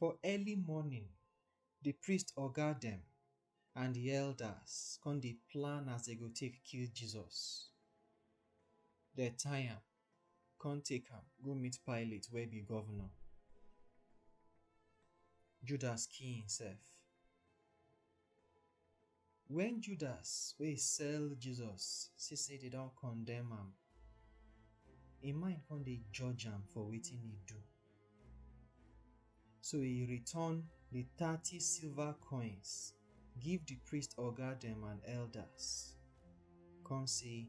For early morning, the priest oga dem and the elders come dey plan as they go take kill Jesus. They tie am, come take am go meet Pilate wey be governor. Judas kill himself. Wen Judas wey sell Jesus see sey dey don condemn am, im mind come dey judge am for wetin e do. So e return di thirty silver coins give di priest oga dem and elders, come sey,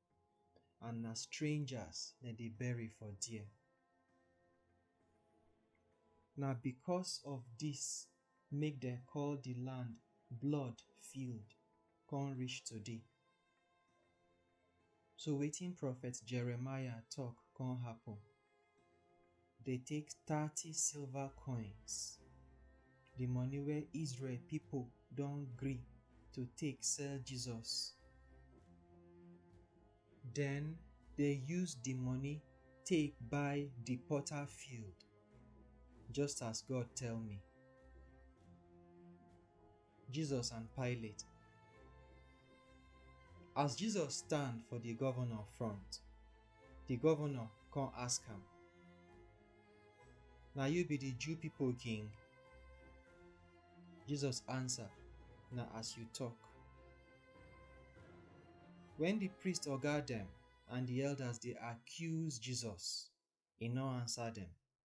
and na strangers dem dey bury for there. Na because of this make dem call the land blood field come reach today. So wetin prophet Jeremiah talk come happen. dey take thirty silver coins, di money wey Israel pipo don gree to take sell Jesus. Den dey use di money take buy di potter field, just as God tell me. Jesus and Pilate. As Jesus stand for the governor front, the governor come ask am, Na you be the Jew people king? Jesus answer, Na as you talk. When the priest oga dem and the elders dey accuse Jesus, e no answer dem.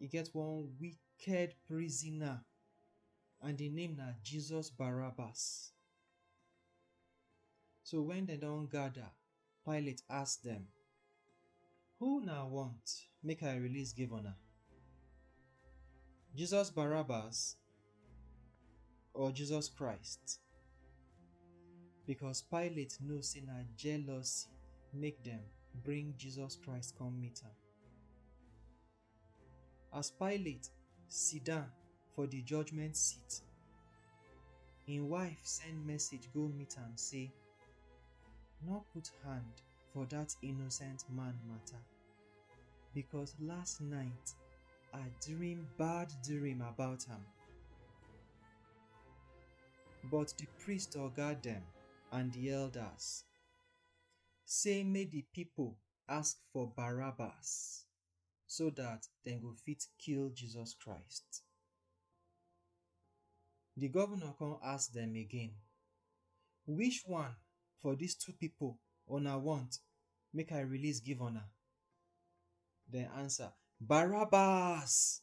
e get one wicked prisoner and the name na jesus barabbas so when dem don gather pilate ask dem who na want make i release give una jesus barabbas or jesus christ because pilate know say na jealousy make dem bring jesus christ come meet am As Pilate sidon for di judgment seat, im wife send message go meet am sey, Nor put hand for dat innocent man mata, becos last night I dream bad dream about am. But di priest oga dem and di elders sey make di pipo ask for Barabbas so that dem go fit kill Jesus Christ. The governor come ask them again, Which one for these two people una want make I release give una? Dem answer, Barabbas!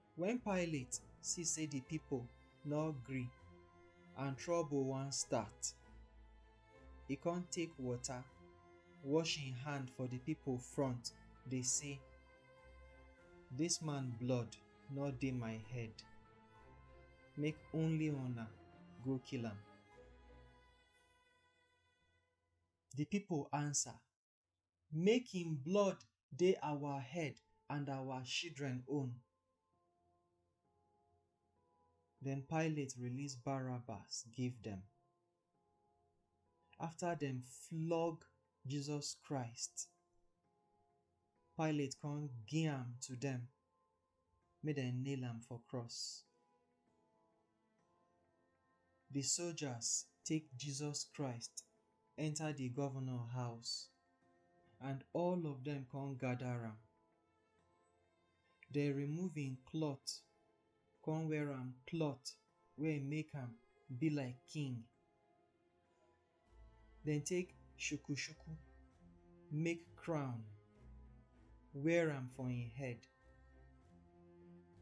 Wen Pilate si sey di pipol nor gri and trobol wan stat, e kon take wota wosh en hand for di pipol front dey sey, Dis man blood nor dey my head, make only una go kill am. Di pipol ansa make im blood dey our head and our shidren own. Den Pilate release Barabbas give dem. Afta dem flog Jesus Christ, Pilate kon gi-am to dem. make dem nail am for cross. Di soldiers take Jesus Christ enter di governor house and all of dem come gather am. Dem remove im cloth come wear am cloth wey make am be like king. Dem take shuku-shuku make crown, wear am for im head,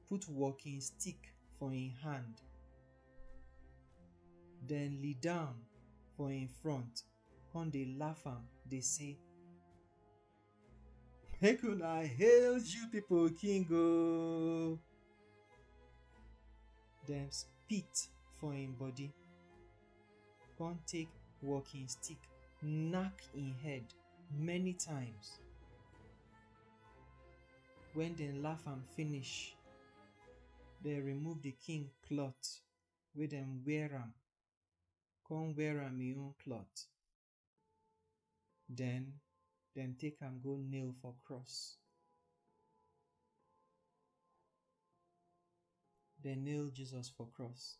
put walking stick for im hand, dem lie down for im front, come dey laugh am, dey say. Make una hail you people, King o. Dem spit for im body, come take walking stick knack im head many times. When dem laugh am finish, dem remove the king cloth wey dem wear am, come wear am im own cloth. Den dem take am go nail for cross. Dem nail Jesus for cross.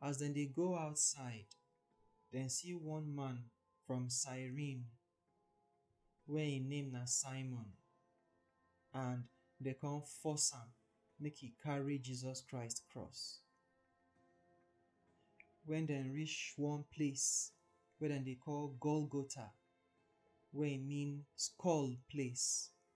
As dem dey go outside, dem see one man from Cyrene wey im name na Simon and dem come force am make e carry Jesus Christ cross. Wen dem reach one place wey dem dey call Golgotha wey e mean skull place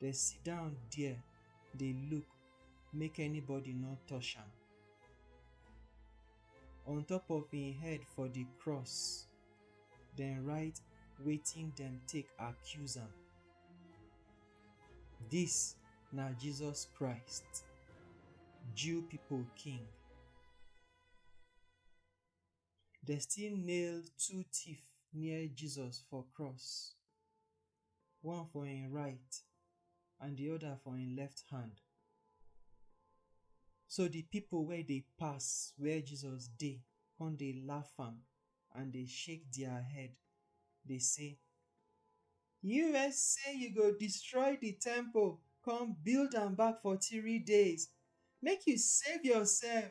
Dem sit down there dey look make anybody no touch am. On top of im head for di cross, dem write wetin dem take accuse am, Dis na Jesus Christ, Jew people King. Dem still nail two thief near Jesus for cross, one for im right and di oda for im left hand. So di pipo wey dey pass where Jesus dey come dey laugh am and dey shake dia head dey say, You wey say you go destroy di temple come build am back for three days, make you save yoursef!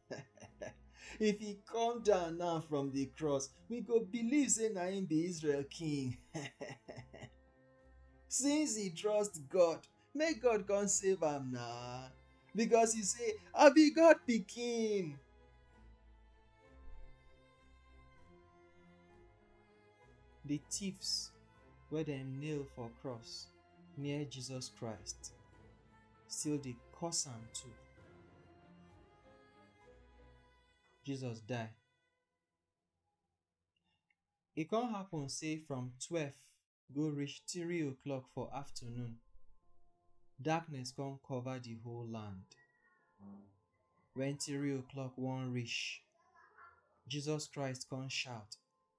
if he come down now from the cross we go believe say na him be israel king since he trust god make god come save am na because he say i be god pikin the thieves wey dem nail for cross near jesus christ still dey curse am too. Jesus die. E come happen say from twelve go reach three o'clock for afternoon, darkness come cover the whole land. When three o'clock wan reach, Jesus Christ come shout,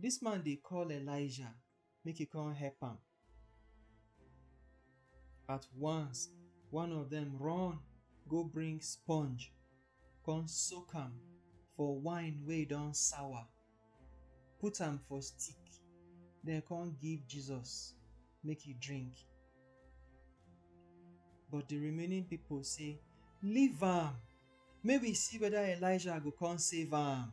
Dis man dey call Elijah make e come help am. At once, one of dem run go bring sponge come soak am for wine wey don sour, put am for stick, den come give Jesus make e drink. But di remaining pipo say, Leave am! Make we see weda Elijah go come save am.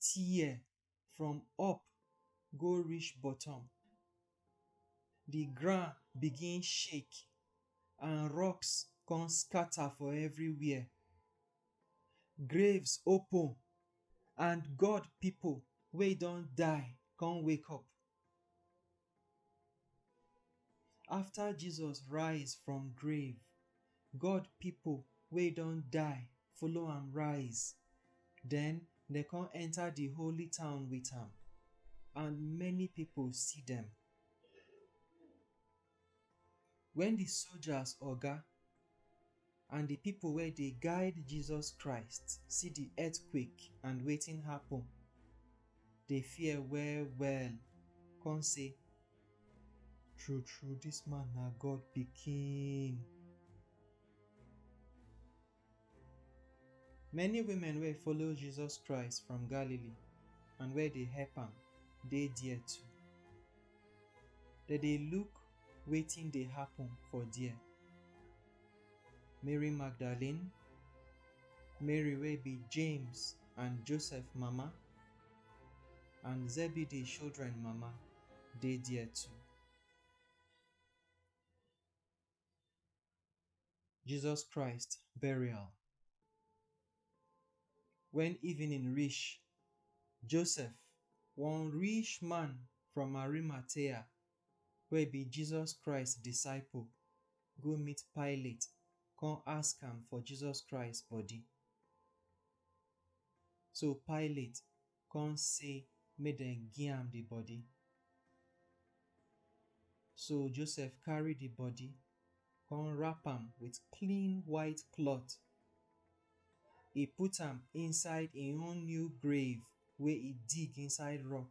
tear from up go reach bottom. Di ground begin shake and rocks come scatter for everywhere. Graves open and God pipo wey don die come wake up. After Jesus rise from grave, God pipo wey don die follow am rise, den dem kon enter di holy town with am and many pipo see dem. Wen di sojas oga and di pipo wey dey guide Jesus Christ see di earthquake and wetin happun, dey fear well-well kon say, True-true, dis man na God Pikin! Many women wey follow Jesus Christ from Galilee and wey dey help am dey there too. Dem dey look wetin dey happen for there. Mary Magdalene, Mary wey be James and Joseph mama, and Zebedee children mama dey there too. Jesus Christ burial. When evening reach, Joseph, one rich man from Arimathea, wey be Jesus Christ disciple, go meet Pilate, come ask am for Jesus Christ body. So Pilate kon sey make dem gi am di body. So Joseph karry di body kon wrap am with clean white klot. E put am inside en own new grave wey e dig inside rock.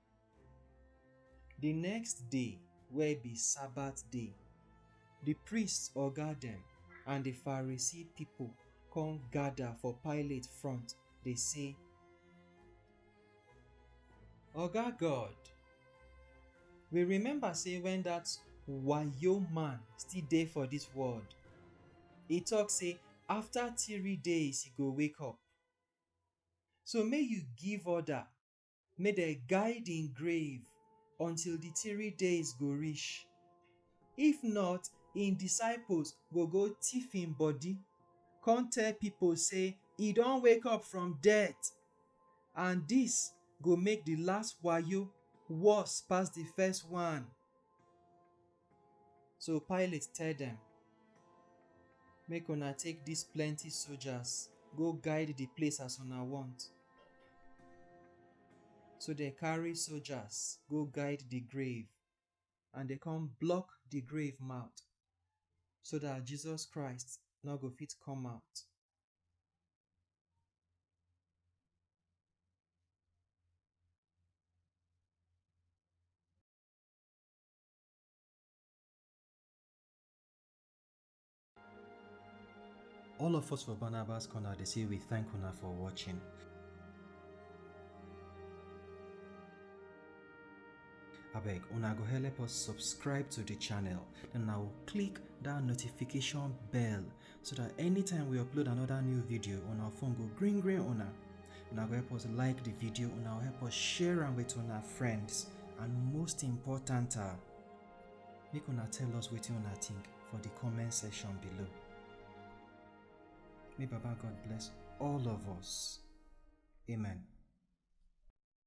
Di next day wey be Sabbath day, di priests oga dem and di Pharisee pipo kon gada for Pilate front dey say, Oga God, we remember sey wen dat wayo man still dey for dis world, e tok sey afta tiri days e go wake up. So make you give order make dem guide im grave until di three days go reach. If not, im disciples go go thief im body, come tell pipo say e don wake up from death, and dis go make di last wayo worse pass di first one. So Pilate tell dem, Make una take dis plenty soldiers go guide di place as una want. So dem carry soldiers go guide di grave and dem come block di grave mouth so dat Jesus Christ no go fit come out. All of us for Barnabas Corner, they say we thank una for watching. abeg una go help us subscribe to the channel then now click that notification bell so that anytime we upload another new video on our phone go green green una una go help us like the video una help us share am with una friends and most important ah make una tell us wetin una think for the comment section below may baba god bless all of us amen